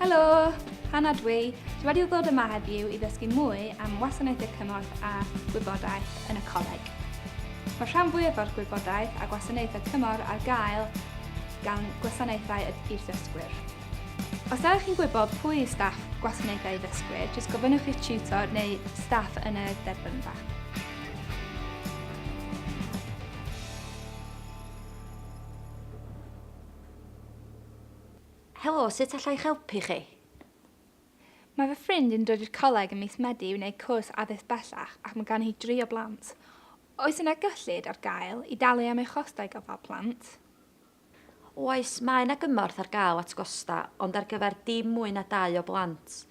Helo! Hannah dwi. Dwi wedi ddod yma heddiw i ddysgu mwy am wasanaethau cymorth a gwybodaeth yn y coleg. Mae rhan fwyaf o'r gwybodaeth a gwasanaethau cymorth ar gael gan gwasanaethau i'r ddysgwyr. Os da chi'n gwybod pwy yw staff gwasanaethau ddysgwyr, jyst gofynnwch i'ch tutor neu staff yn y derbynfa. Helo, sut alla i'ch helpu chi? Mae fy ffrind yn dod i'r coleg ym mis Medi i wneud cwrs addysg bellach ac mae gan hi dri o blant. Oes yna gyllid ar gael i dalu am ei chostau gofal plant? Oes, mae yna gymorth ar gael at gostau, ond ar gyfer dim mwy na dau o blant.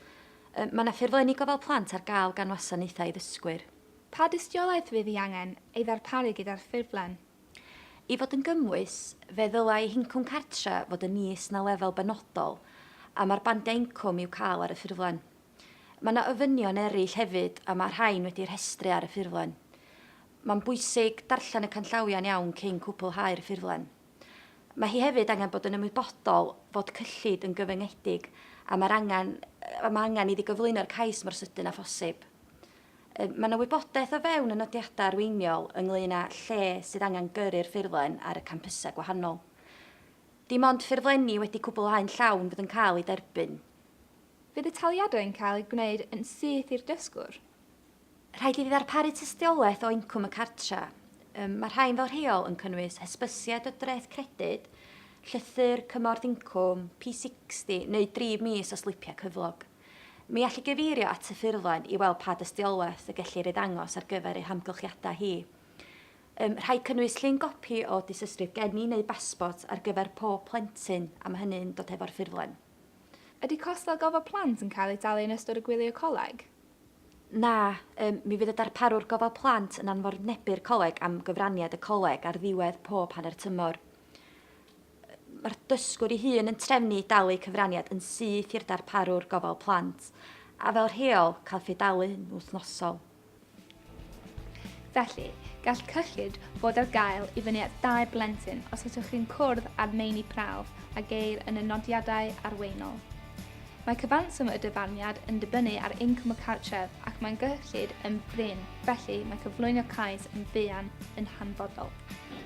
Mae yna ffurflenni gofal plant ar gael gan wasanaethau i ddysgwyr. Pa dystiolaeth fydd hi angen ei ddarparu gyda'r ffurflen? I fod yn gymwys, fe ddylai hincwm cartre' fod yn is na lefel benodol a mae'r bandiau incwm i'w cael ar y ffurflen. Mae yna ofynion eraill hefyd a mae'r rhain wedi'u rhestru ar y ffurflen. Mae'n bwysig darllen y canllawiau'n iawn cyn cwblhau'r ffurflen. Mae hi hefyd angen bod yn ymwybodol fod cyllid yn gyfyngedig a mae angen iddi gyflwyno'r cais mor sydyn â phosib. Mae yna wybodaeth o fewn y nodiadau arweiniol ynglŷn â lle sydd angen gyrru'r ffurflen ar y campysau gwahanol. Dim ond ffurflenni wedi cwblhau'n llawn fydd yn cael eu derbyn. Fydd y taliadau'n cael eu gwneud yn syth i'r dysgwr? Rhaid iddi ddarparu tystiolaeth o incwm y cartref. Mae rhain fel rheol yn cynnwys hysbysiad o dreth credyd, llythyr cymorth incwm, P60 neu dri mis o slipiau cyflog. Mi all i gyfeirio at y ffurflen i weld pa dystiolaeth y gellir ei ddangos ar gyfer ei hamgylchiadau hi. Ym rhaid cynnwys llun gopi o dystysgrif geni neu basbort ar gyfer pob plentyn a mae hynny'n dod hefo'r ffurflen. Ydy costau gofal plant yn cael eu talu yn ystod y gwylio coleg? Na, ym mi fydd y darparwr gofal plant yn anfornebu'r coleg am gyfraniad y coleg ar ddiwedd pob hanner tymor. Mae'r dysgwr ei hun yn trefnu dalu cyfraniad yn syth i'r darparwr gofal plant, a fel rheol, cael ffe-dalu'n wythnosol. Felly, gall cyllid fod ar gael i fyny at dau blentyn os ydych chi'n cwrdd â'r meini prawf a geir yn y nodiadau arweinol. Mae cyfanswm y dyfarniad yn dibynnu ar incwm y cartref ac mae'n gyllid yn brin, felly mae cyflwyno cais yn fuan yn hanfodol.